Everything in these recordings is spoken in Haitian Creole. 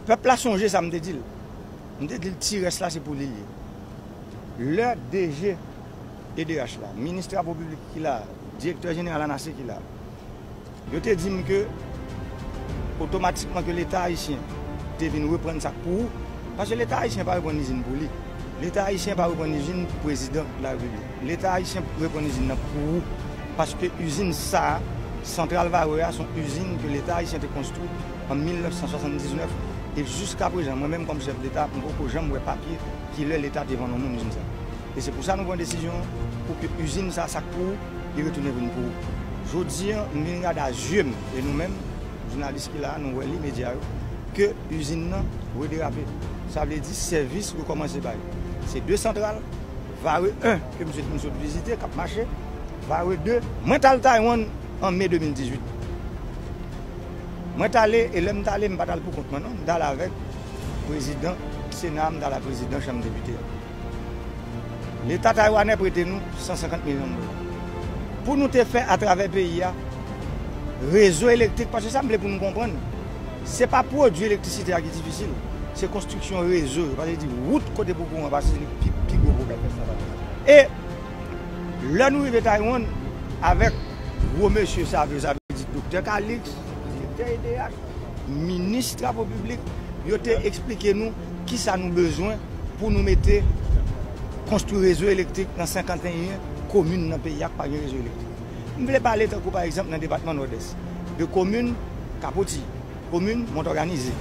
Pèp la sonje sa m te di l. M te di l ti rès la se pou li l ye. Lè DG edh la, minis travo piblik ki la, direktè jeneral anase ki la. Yo te di m ke otomatikman ke leta ayisyen te vin reprann sa k pou ou, paske leta ayisyen pa reprann izin pou li, leta ayisyen pa reprann izin pou prezidan larepiblik, leta ayisyen reprann izin nan pou ou, paske izin sa a, santral Varreux a, son izin ke leta ayisyen te konstwi an 1979, e jiskaprezan mwen menm kòm chèf deta m poko janm wè papye kilè leta te vann yon moun izin sa. E se pou sa nou pran desizyon pou ke izin sa sa k pou ou li retounen vin pou ou. Jodi an m vin gade a zye m e nou menm jounalis ki la a nou wè li medya yo ke izin nan rederape sa vle di sèvis rekòmanse bay se 2 santral Vare 1 ke misye t fin sot vizite k ap mache Vare 2 mwen t al Taywann an me 2018 mwen t ale e lè m t ale m pa t al pou kont mwen non m t ale avèk prezidan sena a m t ale avèk prezidan chanm depite a. Leta taiwanè prete nou 150 milyon dola pou nou te fè atravè peyi a rezo elektrik, paske sa m vle pou nou konprann se pa pwodui elektrisite a ki difisil, se konstriksyon rezo yo, paske di wout kote pou kouran pase se li ki pi gwo pwoblèm lè sa pa fèt. E lè nou rive Taiwan avèk gwo mesye save yo, sa vle di Doktè Kaliks, Direktè edh, Minis Travo Piblik, yo te eksplike nou. Kisa nou bezwen pou nou mete konstwi rezo elektrik nan 51 komin nan peyi a ki pa gen rezo elektrik? M vle pale tankou pa egzanp nan depatman Nòdès de komin Kapoti, komin Montòganize,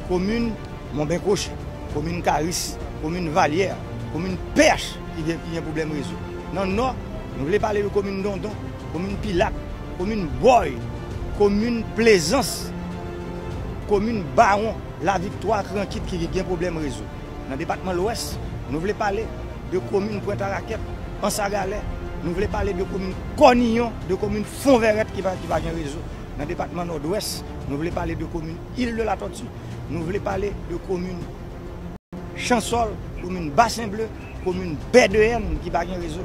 komin Monbenkwochi, komin Karis, komin Valyè, komin Pèch ki gen pwoblèm rezo. Nan Nò, nou vle pale de komin Dondon, komin Pilat, komin Bòy, komin Plezans, komin Bawon. La Viktwa ak Rankit ki gen pwoblèm rezo. Nan depatman Lwès, nou vle pale de komin Pwentarakèt, Ansagalè, nou vle pale de komin Kòniyon, de komin Fonvèrèt ki pa gen rezo. Nan depatman Nòdwès, nou vle pale de komin Il de la Tòti, nou vle pale de komin Chansòl, komin Basen Ble, komin Bèdeyèn ki pa gen rezo.